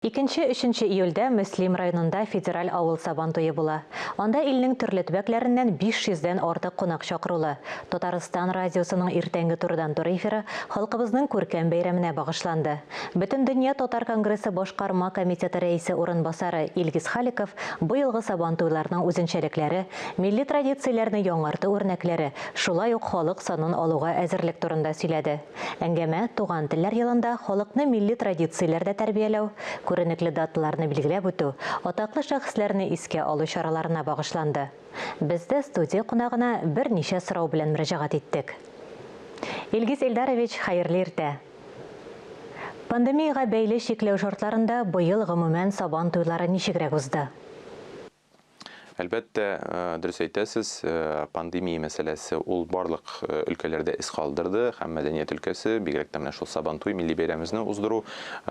Икенче, өченче июльдә Мөслим районында федераль авыл Сабан туе була. Анда илнең төрле төбәкләреннән 500 дән артык кунак чакырулы. Татарстан радиосының иртәнге турыдан-туры эфиры халкыбызның күркәм бәйрәменә багышланды. Бөтендөнья татар конгрессы башкарма комитеты рәисе урынбасары Илгиз Халиков быелгы Сабан туйларының үзенчәлекләре, милли традицияләрне яңарту үрнәкләре, шулай ук халык санын алуга әзерлек турында сөйләде. Әңгәмә Туган телләр елында халыкны милли традицияләрдә тәрбияләү, күренекле даталарны билгеләп үтү, атаклы шәхесләрне искә алу чараларына багышланды. Без дә студия кунагына берничә сорау белән мөрәҗәгать иттек. Илгиз Илдарович, хәерле иртә! Пандемиягә бәйле чикләү шартларында быел гомумән Сабан туйлары ничегрәк узды? Әлбәттә, дөрес әйтәсез, пандемия мәсьәләсе ул барлык өлкәләрдә эз калдырды һәм мәдәният өлкәсе, бигрәк тә менә шул Сабантуй милли бәйрәмебезне уздыру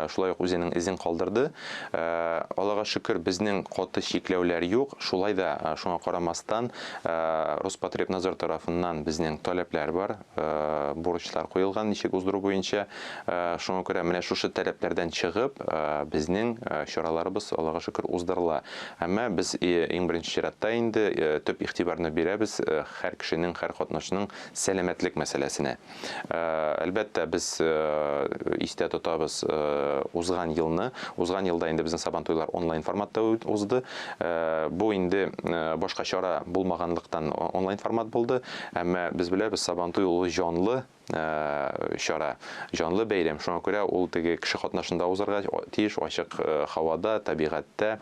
шулай ук үзенең эзен калдырды. Аллага шөкер, безнең каты чикләүләр юк. Шулай да, шуңа карамастан, Роспотребнадзор тарафыннан безнең таләпләр бар. бурычлар куелган, ничек уздыру буенча. Шуңа күрә менә шушы таләпләрдән чыгып, безнең чараларыбыз, Аллага шөкер, уздырыла. Әмма без иң беренче чиратта инде төп игътибарны бирәбез һәр кешенең, һәр катнашның сәламәтлек мәсьәләсенә. Әлбәттә, без истә тотабыз узган елны. Узган елда инде безнең Сабантуйлар онлайн форматта узды. Бу инде башка чара булмаганлыктан онлайн формат булды. Әмма без беләбез, Сабантуй ул җанлы чара, җанлы бәйрәм. Шуңа күрә ул теге кеше катнашында узарга тиеш, ачык һавада, табигатьтә.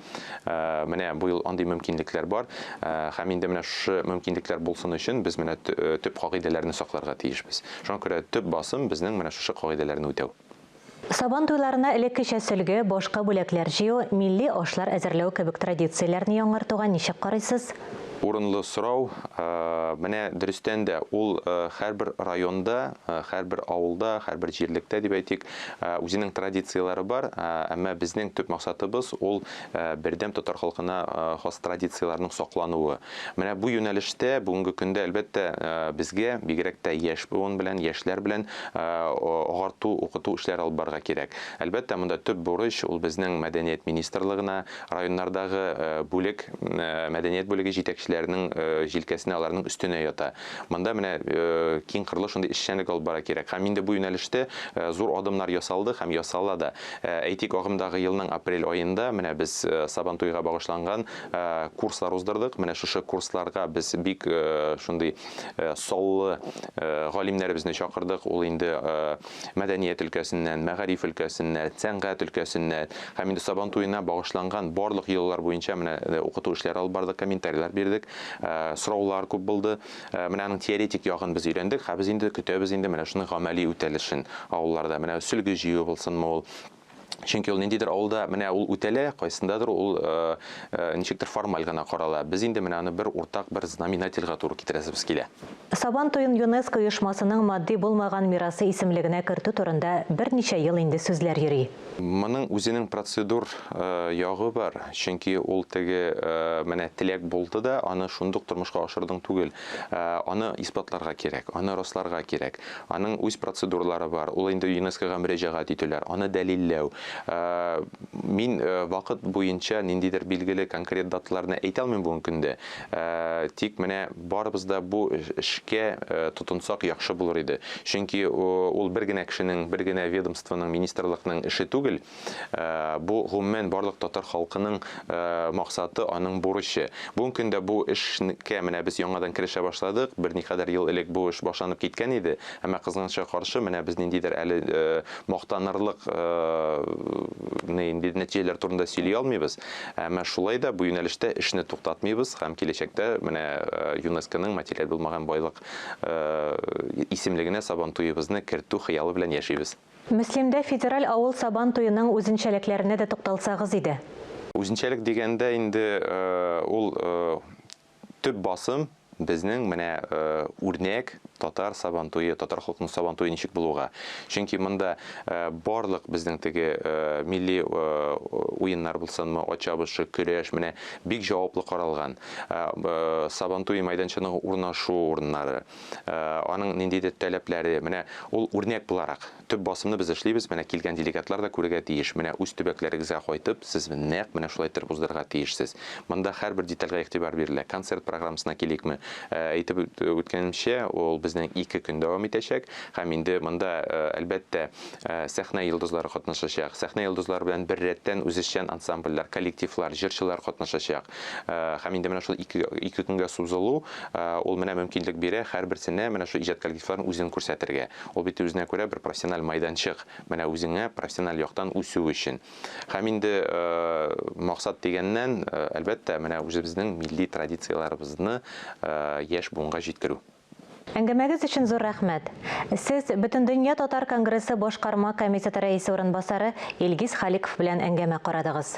Менә бу ел андый мөмкинлекләр бар. Һәм инде менә шушы мөмкинлекләр булсын өчен без менә төп кагыйдәләрне сакларга тиешбез. Шуңа күрә төп басым безнең менә шушы кагыйдәләрне үтәү. Сабан туйларына элеккечә сөлге, башка бүләкләр җыю, милли ашлар әзерләү кебек традицияләрне яңартуга ничек карыйсыз? Урынлы сорау. Менә дөрестән дә, ул һәрбер районда, һәрбер авылда, һәрбер җирлектә дип әйтик, үзенең традицияләре бар. Әмма безнең төп максатыбыз, ул бердәм татар халкына хас традицияләрнең саклануы. Менә бу юнәлештә бүгенге көндә, әлбәттә, безгә, бигрәк тә яшь буын белән, яшьләр белән агарту, укыту эшләре алып барырга кирәк. Әлбәттә, монда төп бурыч, ул безнең мәдәният министрлыгына, районнардагы бүлек, мәдәният бүлеге җитәкчеләренең җилкәсенә, аларның өстенә ята. Монда менә киңкырлы шундый эшчәнлек алып барырга кирәк. Һәм инде бу юнәлештә зур адымнар ясалды һәм ясала да. Әйтик, агымдагы елның апрель аенда менә без Сабантуйга багышланган Э, курслар уздырдык. Менә шушы курсларга без бик э, шундый э, саллы галимнәребезне чакырдык. Ул инде мәдәният өлкәсеннән, мәгариф өлкәсеннән, сәнгать өлкәсеннән һәм инде Сабан туена багышланган барлык еллар буенча менә укыту эшләре алып бардык, комментарийлар бирдек, сораулар күп булды. Менә аның теоретик ягын без өйрәндек, һәм без инде көтәбез инде менә шуның гамәли үтәлешен авылларда. Менә сөлге җыю булсынмы ул, Чөнки ул ниндидер авылда менә ул үтәлә, кайсындадыр ул э, э, ничектер формаль гына карала. Без инде менә аны бер уртак бер знаменательга туры китерәсебез килә. Сабан туен ЮНЕСКО оешмасының матди булмаган мирасы исемлегенә кертү турында берничә ел инде сүзләр йөри. Моның үзенең процедур э, ягы бар, чөнки ул теге э, менә теләк булды да, аны шундук тормышка ашырдың түгел. Э, аны исбатларга кирәк, аны расларга кирәк. Аның үз процедуралары бар. Ул инде ЮНЕСКОга мөрәҗәгать итүләр, аны дәлилләү. Мин вакыт буенча ниндидер билгеле конкрет даталарны әйтә алмыйм бүгенге көндә. Тик менә барыбыз да бу эшкә тотынсак яхшы булыр иде. Чөнки ул бер генә кешенең, бер генә ведомствоның, министрлыкның эше түгел. Бу, гомумән, барлык татар халкының максаты, аның бурычы. Бүгенге көндә бу эшкә менә без яңадан керешә башладык. Берникадәр ел элек бу эш башланып киткән иде. Әмма, кызганычка каршы, менә без ниндидер әле мактанырлык нәтиҗәләр турында сөйли алмыйбыз. Әмма шулай да бу юнәлештә эшне туктатмыйбыз һәм киләчәктә менә ЮНЕСКОның материаль булмаган байлык исемлегенә Сабантуебызны кертү хыялы белән яшибез. Мөслимдә федераль авыл Сабан туеның үзенчәлекләренә дә тукталсагыз иде. Үзенчәлек дигәндә инде ул төп басым безнең менә үрнәк татар Сабан туе, татар халкының Сабан туе ничек булуга. Чөнки монда барлык безнең теге милли уеннар булсынмы, ат чабышы, көрәш, менә бик җаваплы каралган. Сабан туе мәйданчының урнашу урыннары. э, аның ниндидер таләпләре, менә ул үрнәк буларак төп басымны без эшлибез, менә килгән делегатлар да күрергә тиеш. Менә үз төбәкләрегезгә кайтып, сез нәкъ менә шулай итеп уздырырга тиешсез. Монда һәрбер детальгә игътибар бирелә. Концерт программасына киликме? Э, әйтеп үткәнемчә, ул безнең ике көн дәвам итәчәк һәм инде монда э, әлбәттә сәхнә йолдызлары катнашачак. Сәхнә йолдызлары белән бер рәттән үзешчән ансамбльләр, коллективлар, җырчылар катнашачак. Һәм инде менә шул ике, ике көнгә сузылу, ул менә мөмкинлек бирә һәрберсенә менә шул иҗат коллективларын үзен күрсәтергә. Ул бит үзенә күрә бер профессиональ майданчык, менә үзеңә профессиональ яктан үсү өчен. Һәм инде максат дигәннән, әлбәттә, менә үзебезнең милли традицияләребезне яшь буынга җиткерү. Әңгәмәгез өчен зур рәхмәт. Сез Бөтендөнья татар конгрессы башкарма комитеты рәисе урынбасары Илгиз Халиков белән әңгәмә карадыгыз.